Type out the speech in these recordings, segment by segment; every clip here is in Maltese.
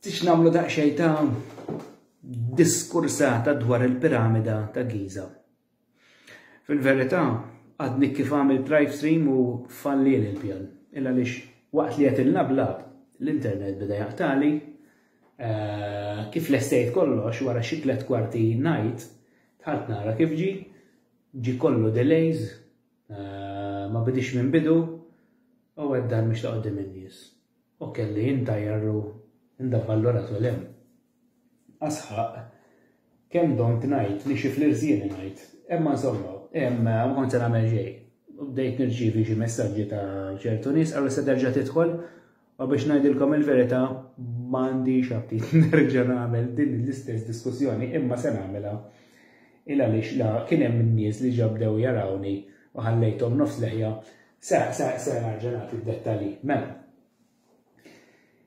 Tix namlu daqxej ta' diskursata dwar il-piramida ta' Giza. Fil-verità, għadni kif għamil drive stream u falli l-pjan. Illa lix waqt li għetil nablab, l-internet bida jaqtali, eh, kif l-essejt kollox wara xiklet kwarti najt, tħalt nara kif ġi, ġi kollu delays, Ma bidix minn bidu u għeddan mhux ta' qudiem in-nies. U kelli intajjar u ndavvallurat u lem. Asħaq, kemm domt ngħid li xi flirżieni ngħid. Imma insomma, ma kont se nagħmel xejn. U bdejt nirċievi xi messaġġi ta' ċertu nies, qalu se terġa' tidħol Ma biex ngħidilkom il-verità ma għandix aptit nerġa' nagħmel din l-istess diskussjoni imma se nagħmilha il għaliex la kien hemm in-nies li ġabdew jarawni u ħallejthom nofs leħja se se se nerġa' nagħti d-dettalji. Mela.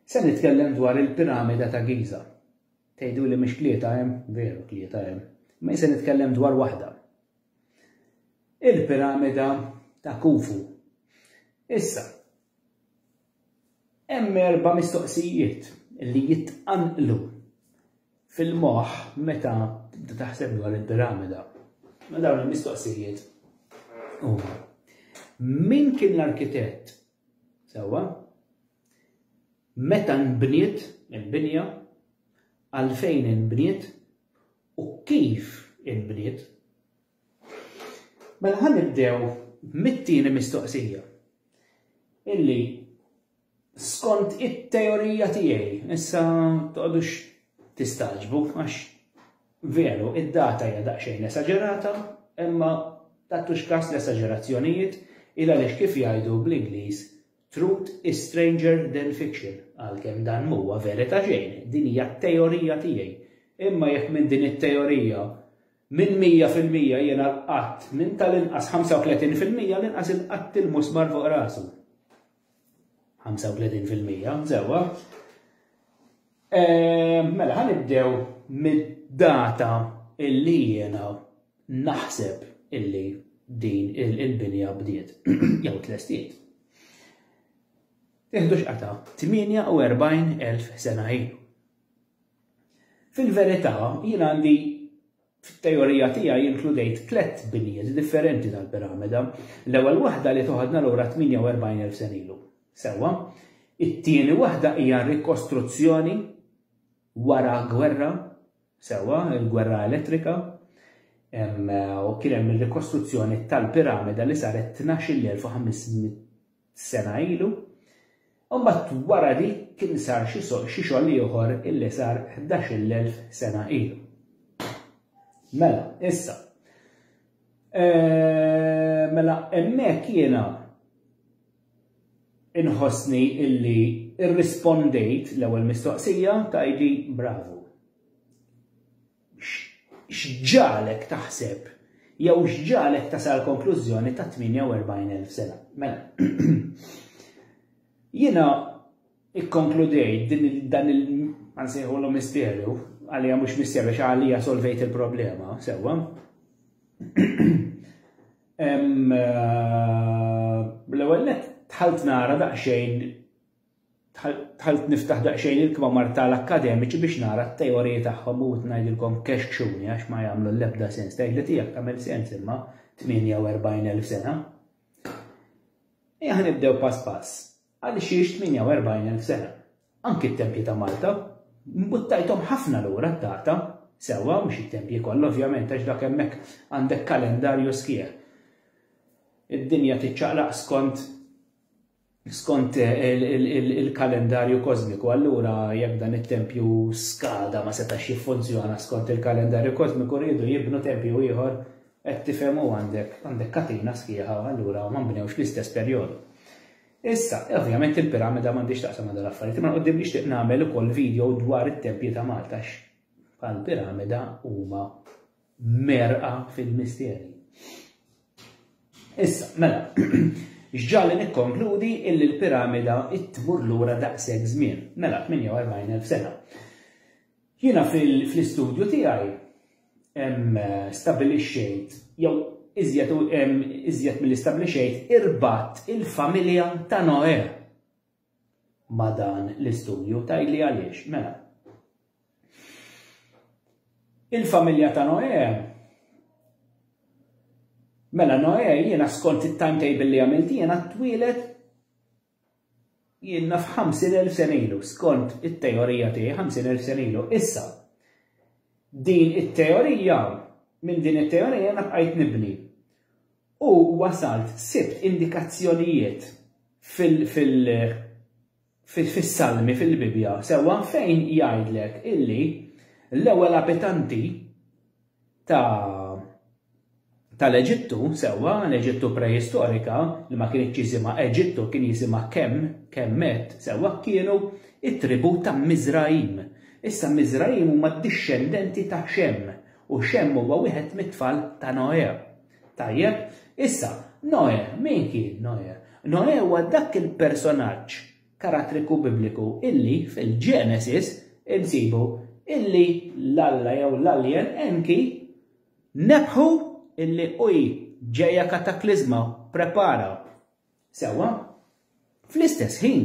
Se nitkellem dwar il-piramida ta' Giza. Tgħidu li mhix tlieta hemm, veru tlieta hemm. Ma se nitkellem dwar waħda. Il-piramida ta' Kufu. Issa, Hemm erba' mistoqsijiet li jitqanqlu fil-moħħ meta tibda taħseb dwar il-piramida. Ma dawn il-mistoqsijiet huma min kien l-arkitett sewwa? Meta nbniet il-binja? Għalfejn inbniet? U kif inbniet? Mela ħa nibdew mit-tieni mistoqsija. Illi skont it-teorija tiegħi, issa toqgħodux tistaġbu għax veru id-data hija daqsxejn esaġerata, imma tattux kas l-esaġerazzjonijiet il għaliex kif jgħidu bl-Ingliż truth is stranger than fiction għalkemm dan mhuwa verita xejn, din hija teorija tiegħi. Imma jekk minn din it-teorija Minn mija fil-mija jiena l-qatt, minn tal-inqas 35 fil-mija l-inqas il-qatt il-musmar fuq rasu. 35 fil-mija, sewwa. Ehm, mela, ħan ibdew mid-data illi jiena naħseb illi din il-binja bdiet, jew tlestiet. Iħdu xqata 48,000 sena ilu. Fil-verità, jien għandi fit-teorija tiegħi inkludejt tliet binjiet differenti tal-piramida. L-ewwel waħda li toħodna lura 48,000 sen ilu. Sewwa, it-tieni waħda hija rikostruzzjoni wara gwerra, sewwa, il-gwerra elettrika, u kien hemm ir-rikostruzzjoni tal-piramida li saret 12,500 sena ilu, u mbagħad wara dik kien sar xi xogħol ieħor illi sar ħdax-il elf sena ilu. Mela, issa. Eh, mela, hemmhekk jiena inħossni illi irrispondejt l-ewwel mistoqsija tajdi bravu. X'ġagħlek taħseb jew x'ġagħlek tasal għall-konklużjoni ta' 48,000 sena? Mela, jiena ikkonkludejt din dan il ma nsejħulu misterju, għalija mhux misterju xa għalija solvejt il-problema, sewwa. Eh, l-ewwel tħalt nara daqsxejn Dħalt niftaħ daqsxejn il-kmamar tal-akkademiċi biex nara t-teoriji tagħhom u ngħidilkom kexkxuni għax ma jagħmlu l-ebda sens. Tgħidli tiegħek tagħmel sens imma 48,000 sena. Ejja ħanibdew pass pass. Għaliex jiex 48,000 sena. Anki t-tempji ta' Malta, mbuttajthom ħafna lura d-data, sewwa mhux it-tempji kollha ovvjament għax dak hemmhekk għandek kalendarju sħiħ. Id-dinja tiċċaqlaq skont Skont il-kalendarju kożmiku, allura jekk dan it-tempju skada ma setax jiffunzjona skont il-kalendarju kożmiku riedu jibnu tempju ieħor qed tifhem u għandek għandek katina sħiħa allura ma nbnewx l-istess perjodu. Issa, ovvjament il-piramida m'għandix taqsam ma' dal-affarijiet, imma qudiem nixtieq nagħmel ukoll video dwar it-tempji ta' Malta għax bħal piramida huma merqa fil-misteri. Issa, mela, xġalli nikkonkludi illi l-piramida tmur lura daqshekk żmien, mela 48,000 sena. Jiena fl-istudju tiegħi stabilixxejt jew iżjed iżjed mill-istabbilixxejt irbat il-familja ta' Noe. ma' dan l-istudju? Tgħidli għaliex. Mela. Il-familja ta' Noè Mela Noè jiena skont it-timetable li għamilt jiena twieled jiena f'50,000 sena ilu, skont it-teorija tiegħi 50,000 sena ilu. Issa, din it-teorija, minn din it-teorija jiena bqajt nibni. u wasalt sibt indikazzjonijiet fil fil fis-Salmi fil-Bibbja sewwa fejn jgħidlek illi l-ewwel abitanti ta' tal-Eġittu sewwa l-Eġittu preistorika li ma kienitx jisimha Eġittu kien jisimha Kem, Kemmet sewwa kienu t-tribù ta' Miżrajim. Issa Miżrajim huma d-dixxendenti ta' Xem u Xem huwa wieħed mit-tfal ta' Noè. Tajjeb, issa, Noè, min kien Noè? Noè huwa dak il-personaġġ karattriku Bibliku illi fil-Genesis insibu illi l-Alla jew l-Alien Enki nebħu illi hui ġejja katakliżma, prepara. Sewwa, fl-istess ħin,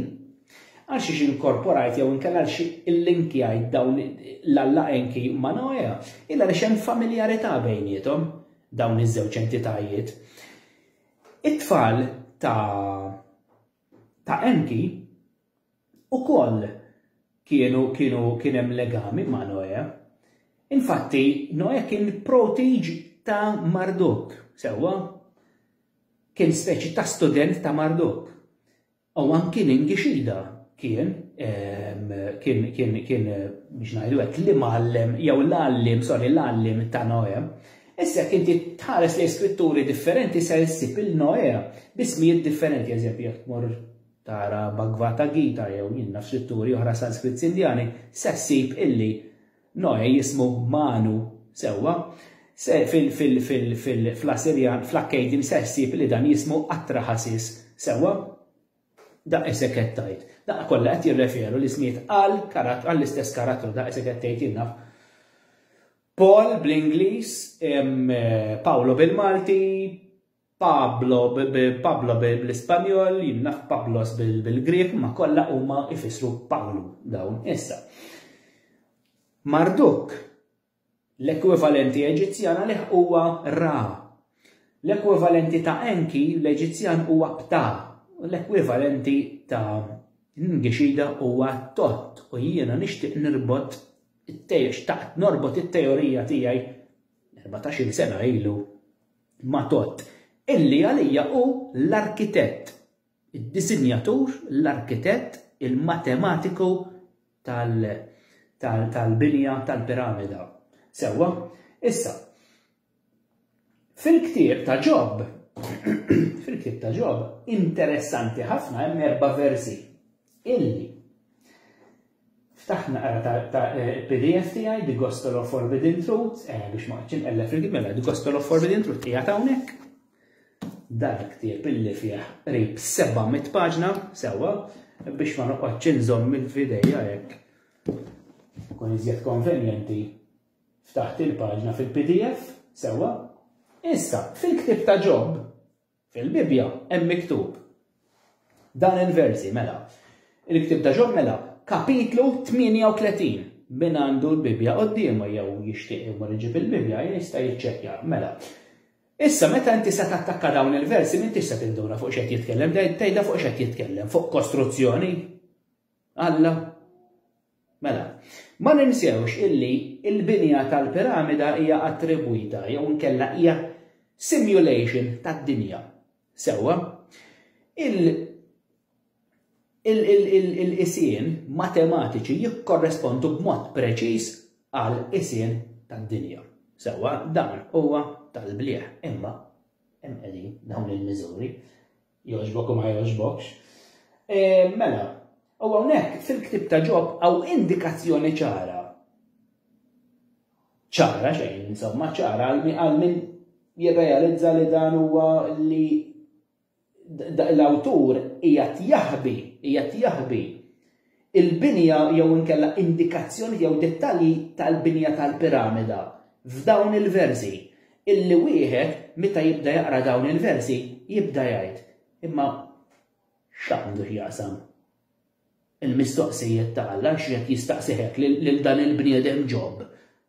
għal xiex inkorporajt jew inkella għal xi illinkjajt dawn l-Alla Enki ma' Noea, illa li xem familjarità bejnietom dawn iż-żewġ entitajiet. It-tfal ta' ta' Enki ukoll kienu kienu kien hemm legami ma' Noè. Infatti, Noè kien protiġ ta' Marduk, sewwa? Kien speċi ta' student ta' Marduk. U anki Ningixida kien ehm, kien kien kien biex ngħidu hekk li mgħallem jew l-għalliem, sorry, l-għalliem ta' Noè. Issa jekk inti tħares lejn skritturi differenti se ssib il-Noè bismijiet differenti, eżempju jekk tmur tara Bhagvata Gita jew jien naf x'litturi oħra Sanskritti Indjani, se ssib illi Noè jismu Manu, sewwa? Se fil fil fil fil fl-Assirjan, fl-Akkadian se ssib li dan jismu Atrahasis, sewwa? Daqq isek qed tgħid. Daqqa kollha qed jirreferu l-ismijiet għal karatt għall-istess karattru, daqq isek qed tgħid jien naf Paul bl-Ingliż, Paolo bil-Malti, Pablo Pablo bl-Ispanjol, jimnaħ Pablos bil-Grieg, imma kollha huma jfissru Pawlu dawn. Issa. Marduk, l-ekwivalenti Eġizzjana li huwa Ra. L-ekwivalenti ta' Enki l-Eġizzjan huwa Pta. L-ekwivalenti ta' Ngixida huwa Tot u jiena nixtieq nirbot it-tejx taqt norbot it-teorija tiegħi 14 sena ilu Matot, illi għalija hu l-arkitett, id-disinjatur, l-arkitett, il-matematiku tal-binja tal-piramida. Sewwa, issa, fil-ktieb ta' Ġob, fil-ktieb ta' Ġob, interessanti ħafna hemm erba' versi illi Ftaħt naqra ta' ta' eh, pdf tiegħi The Gospel of Forbidden Truth, eh, biex ma qċin ellef rigid mela The Gospel of Forbidden Truth hija hawnhekk. Dan ktieb illi fih qrib 700 paġna sewwa biex ma noqgħodx inżomm il-fidejja hekk. Kun iżjed konvenjenti ftaħt il-paġna fil-PDF sewwa. Issa, fil-ktieb ta' Ġob, Fil-Bibbja hemm miktub dan il-versi mela. Il-ktieb ta' Ġon mela kapitlu 38 min għandu l-Bibbja qoddiemu jew jixtieq imur iġib il-Bibbja jista' jiċċekkja mela. Issa meta inti se tattakka dawn il-versi m'intix se tinduna fuq x'qed jitkellem, tgħidha fuq x'qed jitkellem, fuq kostruzzjoni. Alla? Mela, ma ninsewx illi l-binja tal-piramida hija attribwita jew inkella hija simulation tad-dinja. Sewwa? Il-qisien matematiċi jikkorrespondu b'mod preċiż għal qisien tad-dinja. Sewwa dan huwa tal-blieh imma hemm qegħdin dawn il-miżuri Jogħġbok u ma jogħġbokx. E, mela, u hawnhekk fil-ktib ta' ġob hawn indikazzjoni ċara. ċara xejn, insomma, ċara għal min jirrealizza li dan huwa li l-awtur qiegħed jaħbi, qiegħed jaħbi il-binja jew inkella indikazzjonijiet jew dettalji tal-binja tal-piramida f'dawn il-versi, illi wieħed meta jibda jaqra dawn il-versi jibda jgħid, imma x'għandu x'jaqsam il-mistoqsijiet ta' Alla, x'qed jistaqsi hekk lil dan il-bniedem Ġob?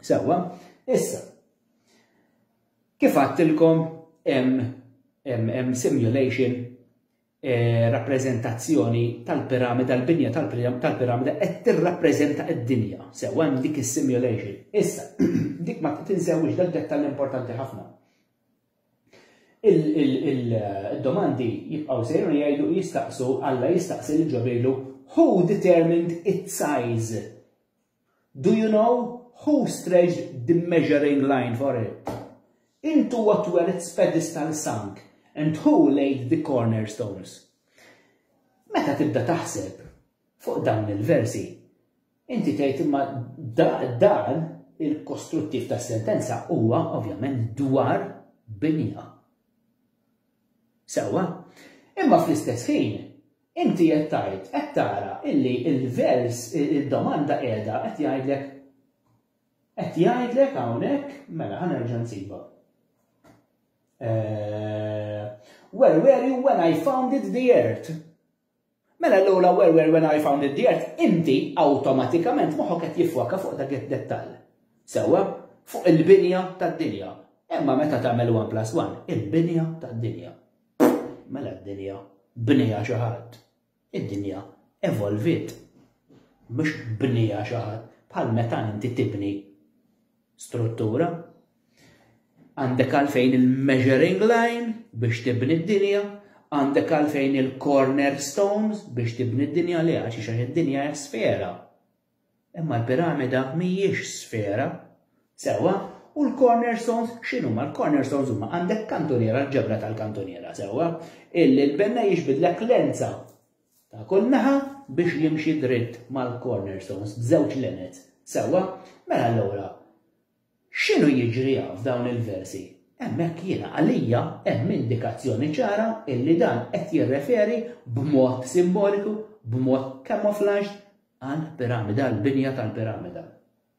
Sewwa, issa, kif għattilkom hemm simulation eh, rappreżentazzjoni tal-piramida, l-binja tal-piramida qed tirrappreżenta d-dinja. Sewwa hemm dik is-simulation. Issa, dik ma tinsewwix dak dettall importanti ħafna il-domandi jibqaw sejru jgħidu jistaqsu, Alla jistaqsi li ġobilu, who determined its size? Do you know who stretched the measuring line for it? Into what were its pedestal sunk, and who laid the cornerstones? Meta tibda taħseb fuq dawn il-versi, inti tgħid imma dan il-kostruttiv tas-sentenza huwa ovvjament dwar binja. Sewwa. Imma fl-istess ħin, inti qed tgħid, qed tara illi l-vers, id-domanda qiegħda qed jgħidlek, qed jgħidlek hawnhekk, mela ħa nerġa' nsibha. Eh, where were you when I founded the earth? Mela l-ewwla where where when I founded the earth, inti awtomatikament moħħok qed jiffoka fuq dak id-dettall. Sewwa, fuq il-binja tad-dinja. Imma meta tagħmel 1 plus 1, il-binja tad-dinja. Mela d-dinja bnija xi ħadd. Id-dinja evolvit. Mhux bnija xi ħadd bħal meta inti tibni struttura, għandek għalfejn il-measuring line biex tibni d-dinja, għandek għalfejn il-corner stones biex tibni d-dinja li għax xaħ id-dinja hija sfera. Imma l-piramida mhijiex sfera, sewa, u l-corner stones xinu ma l-corner stones huma għandek kantuniera l-ġebra tal-kantuniera sewa, illi l-benna jiġbidlek lenza ta' kull naħa biex jimxi dritt mal-cornerstones b'żewġ lenet. Sewwa, mela allura x'inhu jiġri hawn f'dawn il-versi? Hemmhekk jiena għalija hemm indikazzjoni ċara illi dan qed jirreferi b'mod simboliku, b'mod camouflaged għal piramida, għal binja tal-piramida.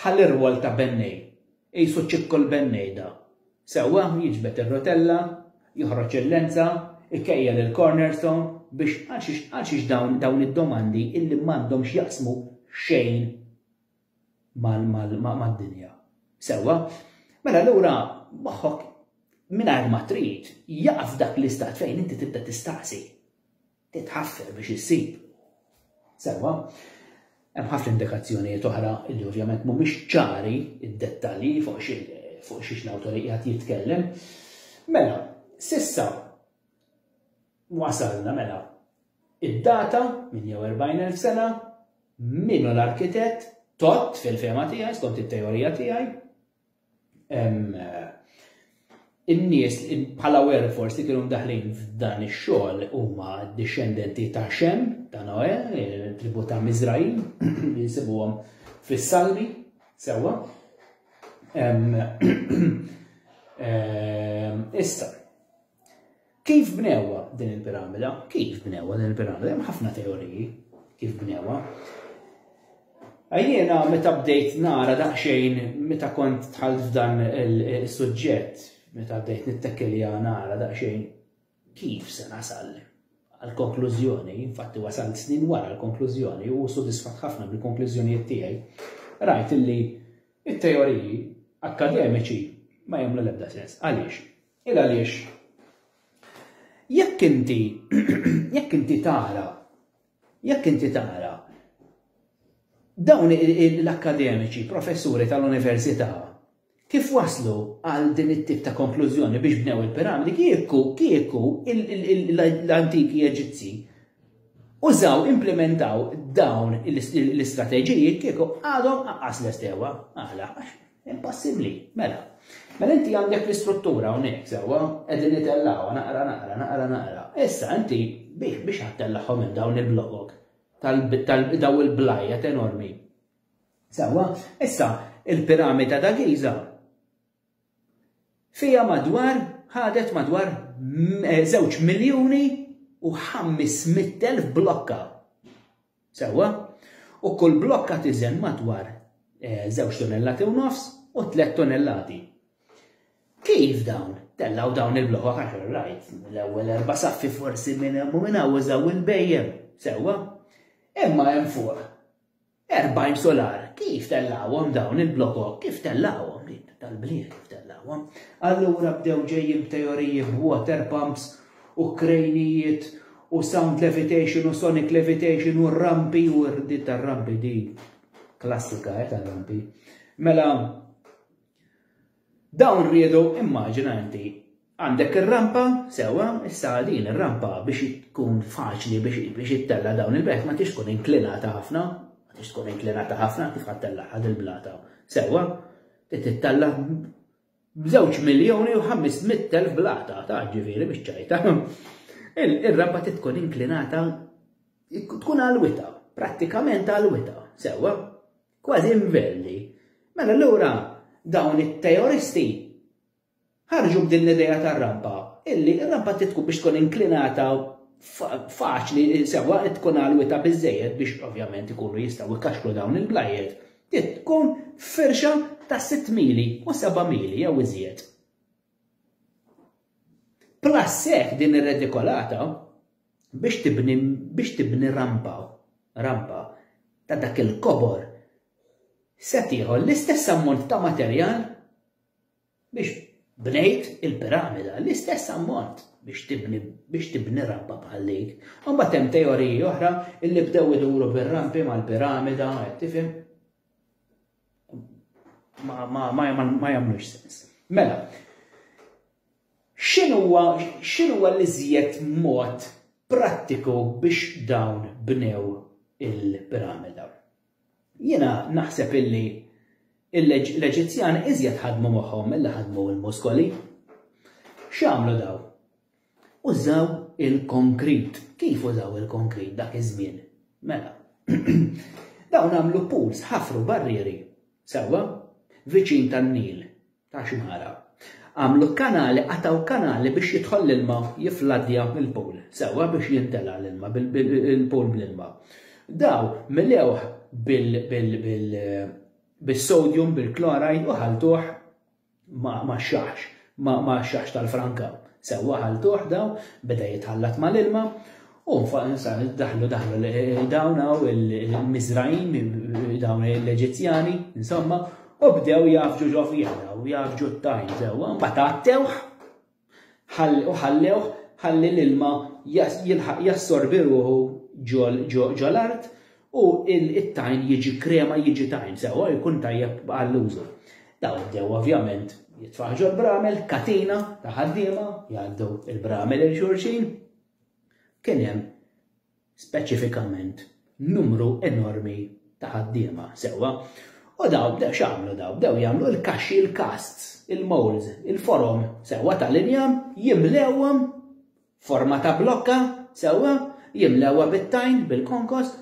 Ħa l-irwol ta' bennej, qisu ċikku l-bennej da. Sewwa, jiġbed ir-rotella, joħroġ il-lenza, ikejjel il-cornerstone biex għalxiex għalxiex dawn dawn id-domandi illi m'għandhom x'jaqsmu xejn mal mal mad-dinja. Sewwa? Mela lura moħħok mingħajr ma trid jaqaf dak l-istat fejn inti tibda tistaqsi. titħaffef biex issib. Sewwa, hemm ħafna indikazzjonijiet oħra li ovvjament mhumiex ċari d-dettalji fuq fuq xiex l-awtor qiegħed jitkellem. Mela, sissa wasalna mela id-data minn jew 40,000 sena minnu l-arkitett tot fil-fema tiegħi skont it-teorija tiegħi in-nies bħala werfors li kienu daħlin f'dan ix-xogħol huma dixxendenti ta' Xem, ta' Noe, tribu ta' Mizraim, li nsibuhom fis-Salmi, sewwa. Issa, Kif bnewha din il-piramida? Kif bnewha din il-piramida? Hemm ħafna teoriji kif bnewha. Jiena meta bdejt nara daqsxejn meta kont tħalt f'dan il-suġġett, meta bdejt nittekkelja nara daqsxejn kif se nasal għal-konklużjoni, infatti wasal snin wara l-konklużjoni u sodisfat ħafna bil-konklużjonijiet tiegħi, rajt illi it-teoriji akkademiċi ma jagħmlu l-ebda sens. Għaliex? Il għaliex jekk inti jekk inti tara jekk inti tara dawn l-akkademiċi, professuri tal-università, kif waslu għal din it-tip ta' konklużjoni biex bnew il-piramidi, kieku, kieku l-antiki Eġizzi użaw, implementaw dawn l-istrateġiji, kieku għadhom għas l-estewa, għala, Impossibbli, mela. Mela inti għandek l-istruttura hawnhekk sewwa, qegħdin nitellgħuha naqra naqra naqra naqra. Issa inti bih biex għattellagħhom minn dawn il-blogok tal-daw il-blajet enormi. Sewwa, issa il-piramida ta' Giza fija madwar ħadet madwar eh, żewġ miljuni u 500,000 blokka. Sewwa, u kull blokka tiżen madwar żewġ tunellati u nofs u tliet tunellati. Kif dawn? Tellgħu dawn il-blokok għax rajt l-ewwel erba' saffi forsi minn hemm u minn hawn użaw il-bejjem. Sewwa. Imma hemm fuq 40 solar. Kif tellgħuhom dawn il-blokok? Kif tellgħuhom din tal-bliet kif tellgħuhom? Allura bdew ġejjin b'teoriji b'water pumps u krejnijiet u sound levitation u sonic levitation u rampi u rdit ta' rampi di klassika eh, ta' rampi. Mela, dawn rridu immaġina inti għandek ir-rampa, sewa, issa din ir-rampa biex tkun faċli biex ittella dawn il-belt ma tix tkun inklinata ħafna, ma tix tkun inklinata ħafna kif ħattella ħad il-blata. Sewa, tittella b'żewġ miljuni u ħamist mitt elf bl-għata ta' ġifieri mhix ċajta, ir-rampa trid tkun inklinata tkun għalwitha, prattikament għalwitha, sewwa, kważi inverli. Mela allura dawn it-teoristi ħarġu b'din l-idea tar-rampa, illi r-rampa titku biex tkun inklinata faċli sewwa tkun għalwita biżejjed biex ovvjament ikunu jistgħu jkaxklu dawn il-blajiet Trid tkun firxa ta' sitt mili u seba' mili jew iżjed. Plus hekk din ir-redikolata biex tibni biex tibni rampa rampa ta' dak il-kobor se tieħu l-istess ammont ta' materjal Biex bnejt il-piramida, l-istess ammont biex tibni biex tibni rampa bħal dik. U mbagħad hemm teoriji oħra illi bdew iduru bir-rampi mal-piramida, qed tifhem? Ma ma ma ma jagħmlux sens. Mela, x'inhuwa x'inhuwa l-iżjed mod prattiku biex dawn bnew il-piramida? Jiena naħseb illi l-Eġizzjani iżjed ħadmu moħħhom milli ħadmu l-muskoli. X'għamlu dawn? Użaw il-konkrit. Kif użaw il-konkrit dak iż-żmien? Mela. Dawn għamlu pools, ħafru barrieri, sewwa, viċin tan-Nil. ta' xmara. Għamlu kanali, qatgħu kanali biex jidħol l-ilma jifladdja l-pool sewwa biex jimtela l-ilma il-pool bl-ilma. Daw milewh bis-sodium, bil-chloride u ħaltuh ma' xaħx, ma' xaħx tal-franka. Sewwa ħaltuh daw, beda jitħallat mal-ilma U nfaq insan daħlu daħlu dawn hawn il-Miżrajn, dawn l-Eġizzjani, insomma, u bdew jafġu ġo fiha daw, jafġu t-tajn sewwa, mbagħad għattewh u ħallewh ħalli l-ilma jilħaq jassorbi ruħu ġo l-art u it-tajn jiġi krema jiġi tajn sewwa jkun tajjeb għall-użu. Daw bdew ovvjament jitfaħġu l-bramel, katina ta' ħaddiema, jgħaddu l-bramel il-xurxin, Kien hemm speċifikament numru enormi ta' ħaddiema, sewwa, u dawn bdew x'għamlu dawn? Bdew jagħmlu il-kaxxi, il-casts, il-moulds, il-forom, sewwa, tal-injam, jimlewhom forma ta' blokka, sewwa, jimlewha bit-tajn, bil-konkost,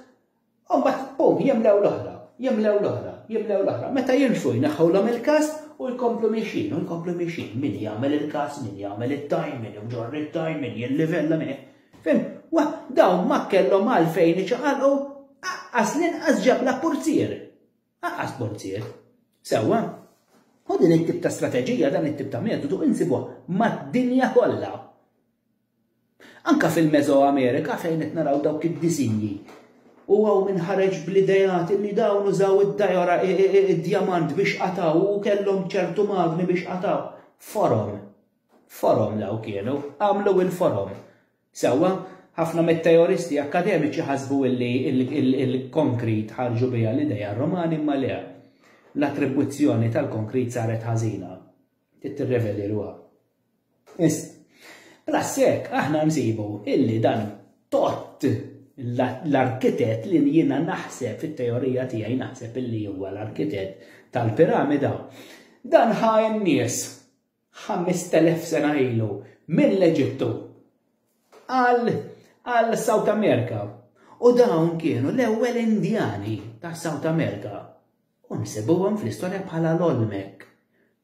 U mbagħad, bum, jimlew l-oħra, jimlew l-oħra, jimlew l-oħra. Meta jilfu jneħħulhom il-kas u jkomplu miexin, u jkomplu miexin. Min jagħmel il-kas, min jagħmel it-tajn, min jġorr it-tajn, min jillivella, min Fim, wa, dawn ma kellhom għalfejn iċaqalqu, aqqas l-inqas ġabla purzier. Aqqas purzier. Sewwa, U din it-tip ta' strateġija, dan it-tip ta' metodu insibuha mad-dinja kollha. Anke fil-Mesoamerika fejn qed naraw dawk id-disinji u hawn min ħareġ bl-ideat li dawn użaw id-dajora, id-djamant biex qatgħu u kellhom ċertu magni biex qatgħu. Forom. Forom dawk kienu. Għamlu il-forom. Sewwa, ħafna mit-teoristi akkademiċi ħasbu illi il-konkrit ħarġu biha l-idea r-Romani imma le. L-attribwizzjoni tal-konkrit saret ħażina. Trid tirrevedi ruha. Issa, plus hekk aħna nsibu illi dan Tott, l-arkitett li jiena naħseb fit-teorija tiegħi naħseb illi huwa l-arkitett tal-piramida, dan ħa n-nies 5000 sena ilu mill-Eġittu għal South America. U dawn kienu l-ewwel Indjani ta' South America. U nsibuhom fl-istorja bħala l-Olmek.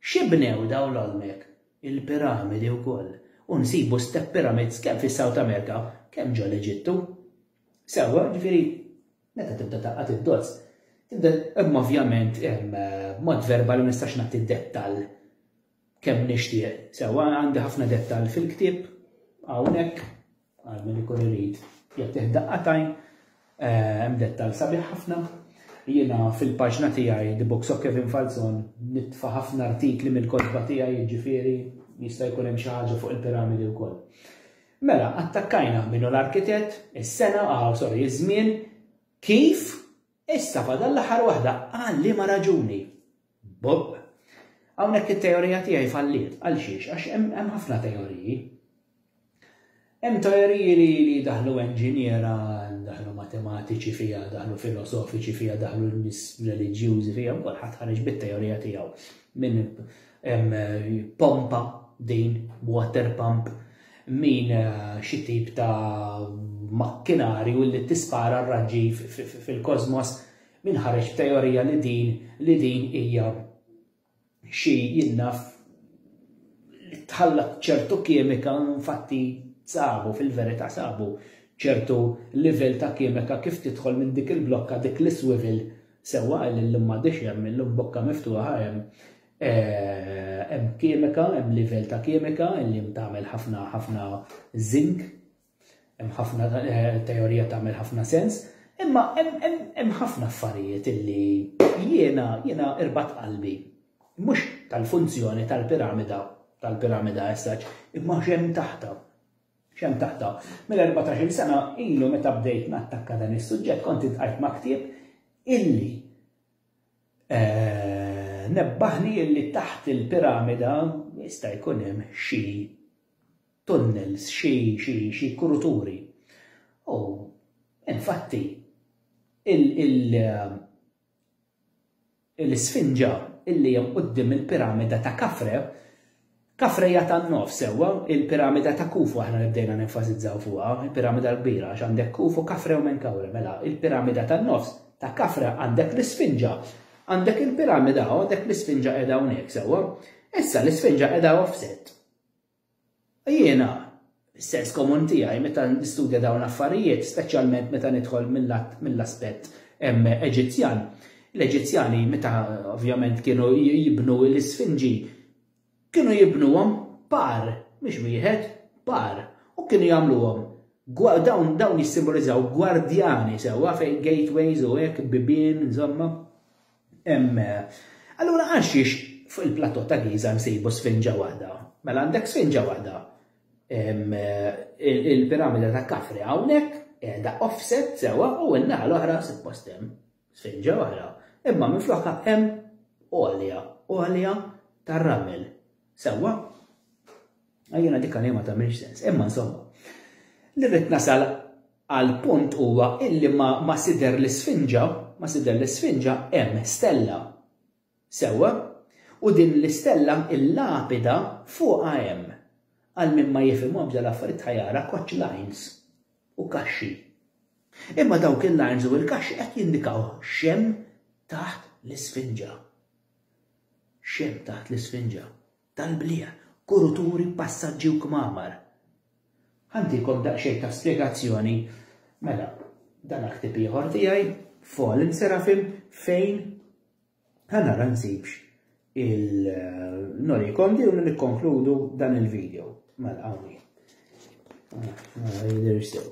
Xi bnew dawn l-Olmek? Il-piramidi wkoll. U nsibu step pyramids kemm fis-South America, kemm ġo l-Eġittu. Sewwa, jiġifieri, meta tibda tgħaqqad id-dots, tibda, imma ovvjament, b'mod verbali ma nistax nagħti dettall kemm nixtieq. Sewwa, għandi ħafna dettall fil-ktieb hawnhekk. Għal min ikun irid jagħtih daqqatajn, eh, hemm dettal sabiħ ħafna. Jiena fil-paġna tiegħi The Books of Kevin Falzon nitfa' ħafna artikli mill-kotba tiegħi jiġifieri jista' jkun hemm xi ħaġa fuq il-piramidi wkoll. Mela, attakkajna minnu l-arkitett, is-sena, ah, sorry, iż-żmien, kif, issa fadal l-aħħar waħda, għal liema raġuni. Bob, Hawnhekk it-teorija tiegħi falliet. Għal xiex? Għax hemm ħafna teoriji. Hemm teoriji li li daħlu enġiniera, daħlu matematiċi fija, daħlu filosofiċi fija, daħlu nis reliġjużi fija, u kulħadd ħareġ bit-teorija tiegħu. Min pompa din water pump, min eh, xi tip ta' makkinarju li tispara r-raġġi fil-kosmos, Min ħareġ b'teorija li din li din hija xi jien naf li tħallat ċertu kimika infatti sabu fil-verità sabu ċertu livell ta' kimika kif tidħol minn dik il-blokka dik l-iswivel sewwa għal illum m'għadix hemm illum bokka miftuħa hemm eh, hemm kimika, hemm livell ta' kimika li tagħmel ħafna ħafna zinc Hemm ħafna teorija tagħmel ħafna sens, imma hemm ħafna affarijiet illi jiena jiena irbat qalbi. Mhux tal-funzjoni tal-piramida tal-piramida essaċ, imma x'hemm taħta xem taħta. Mill-14 sena ilu meta bdejt nattakka dan is-suġġett kont intqajt ma' ktieb illi eh, nebbaħni illi taħt il-piramida jista' jkun hemm xi tunnels, xi, xi, xi kuruturi. U, infatti, il, il, l-isfinġa illi hemm quddiem il-piramida ta' Kafre, Kafre hija tan-nofs sewwa, il-piramida ta' Kufu aħna li bdejna nenfasizzaw fuqha, il-piramida l-kbira għax għandek Kufu, Kafre u Menkawre, mela il-piramida tan-nofs ta' Kafre għandek l-isfinġa, għandek il-piramida u għandek l-isfinġa qiegħda hawnhekk sewwa. Issa l-isfinġa qiegħda offset. Jiena, is-sens komun tiegħi meta nistudja dawn l-affarijiet, speċjalment meta nidħol mill-aspett Eġizzjan, l-Eġizzjani meta ovvjament kienu jibnu l-isfinġi, kienu jibnuhom par, mhux wieħed, par, u kienu jagħmluhom dawn jissimbolizzaw gwardjani sewwa fejn gateways u hekk, bibien, insomma. Hemm. Allura għalxiex fuq il-plateau ta' Giża nsibu sfinġa waħda? Mela għandek sfinġa waħda. Hemm il-piramida ta' Kafri hawnhekk qiegħda offset sewwa u n-naħa l-oħra suppost hemm sfinġa oħra. Imma minflokha hemm għolja, għolja tar-ramel. Sewwa, għajjena dik għalija ma tagħmilx sens, imma insomma. Li rrid nasal għal punt huwa illi ma, ma sider l-isfinġa, ma sider l-isfinġa hemm stella. Sewwa, u din l-istella il-lapida fuqha hemm għal min ma jifhimhom bda l-affarijiet ħajara koċ lines u kaxxi. Imma dawk il-lines u l-kaxxi qed jindikaw xem taħt l-isfinġa. X'hemm taħt l-isfinġa? Tal-bliegħ, kuruturi, passaġġi u kmamar. Ħa ntikom daqsxejn ta' spjegazzjoni. Mela, dan hu ktieb ieħor tiegħi, Fallen Seraphim, fejn ħa nara nsibx il-Noli Kondi u nikkonkludu dan il-video. Mela, għawni. Mela, jidir sew.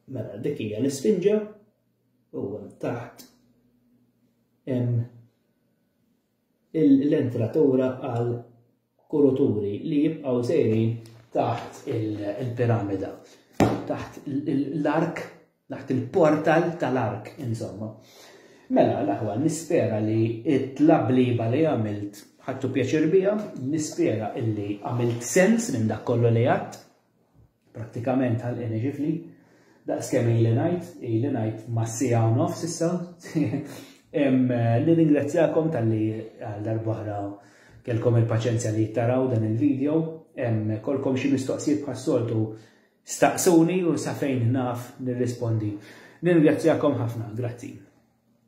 Mela, dik hija l-isfinġa. u taħt hemm l-entratura għal kuruturi li jibqgħu sejrin taħt il-piramida, taħt l-ark, taħt il-portal tal-ark, insomma. Mela, l-aħwa, nispera li it-tlabliba li għamilt ħattu pjaċir bija, nispera illi għamilt sens minn dak kollu li għadd, Prattikament ħalqien iġifli, daqs kemm ili ngħid, ili ngħid ma' siegħa u nofs issa. Nirringrazzjakom tal-li għal darbohra kelkom il-paċenzja li jittaraw dan il-video, kolkom xi mistoqsijiet bħas-soltu staqsuni u sa fejn naf nirrispondi. Nirringrazzjakom ħafna, grazzi.